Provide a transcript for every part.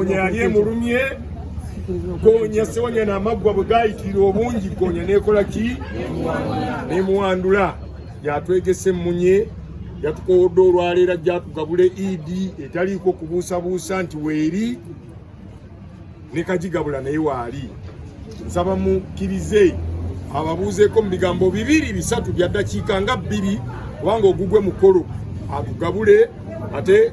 Gonya yali emulumye gonya sewonya n'amaggwa bwe gaayitira obungi gonya n'ekola ki n'emuwandula yatwegese emmunye yatukowodde olwaleero ajja atugabula edi etaliiko kubuusabuusa nti weeri ne kagigabula naye waali nsaba mukkirize ababuuzeeko mu bigambo bibiri bisatu bya ddakiika nga bbiri kubanga ogugwe mukolo atugabule ate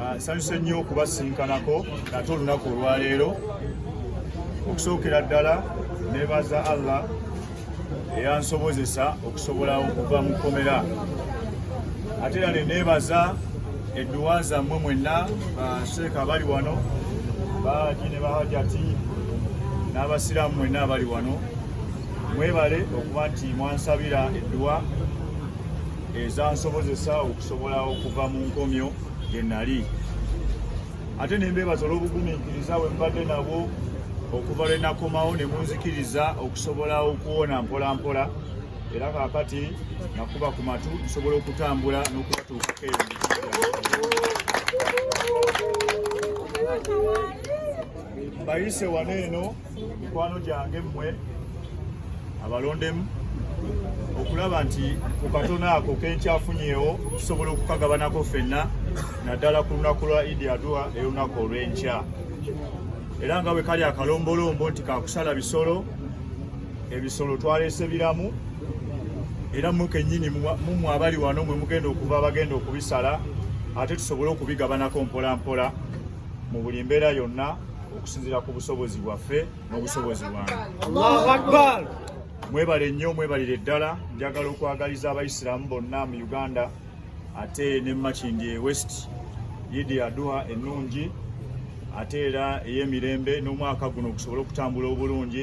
Ah, nsanyuse nnyo okubasinkanako nate olunaku olwaleero okusookera ddala nebaza allah eyansobozesa okusobola okuva mu kkomera ate era neneebaza edduwa zammwe mwenna basheeka abali wano bahaji ne bahajati n'abasiraamu mwenna abali wano mwebale okuba nti mwansabira edduwa ezansobozesa sobola okuva mu nkomyo gye nali ate ne mbeebaza olw'obugumiikiriza bwe mbadde nabwo okuva lwe nakomawo ne munzikiriza okusobola okuwona mpola mpola era kaakati nakuba ku matu nsobola okutambula n'okubatuukako eyo bayise wano eno mikwano gyange mmwe abalondemu okulaba nti ku katono ako kenkyafunyeewo tusobola okukagabanako ffenna naddala ku lunaku lwa idi adua eyolunaku olw'enkya era nga bwe kali akalombolombo nti kakusala bisolo ebisolo twaleese biramu era mwe kennyini mumwe abali wano mwe mugenda okuva abagenda okubisala ate tusobole okubigabanako mpolampola mu buli mbeera yonna okusinziira ku busobozi bwaffe n'obusobozi bwange mwebale nnyo mwebalire ddala njagala okwagaliza abayisiraamu bonna mu uganda ate ne makindi e west yidi aduha ennungi ate era ey'emirembe n'omwaka guno gusobole okutambula obulungi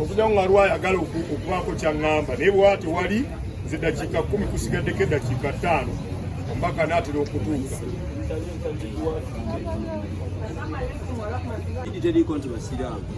okuja nga lwa ayagala okubaako kyaŋŋamba naye bwaa tewali nze dakiika kumi kusigaddeko eddakiika ttaano omubaka naatera okutuuka teriiko nti basiraamu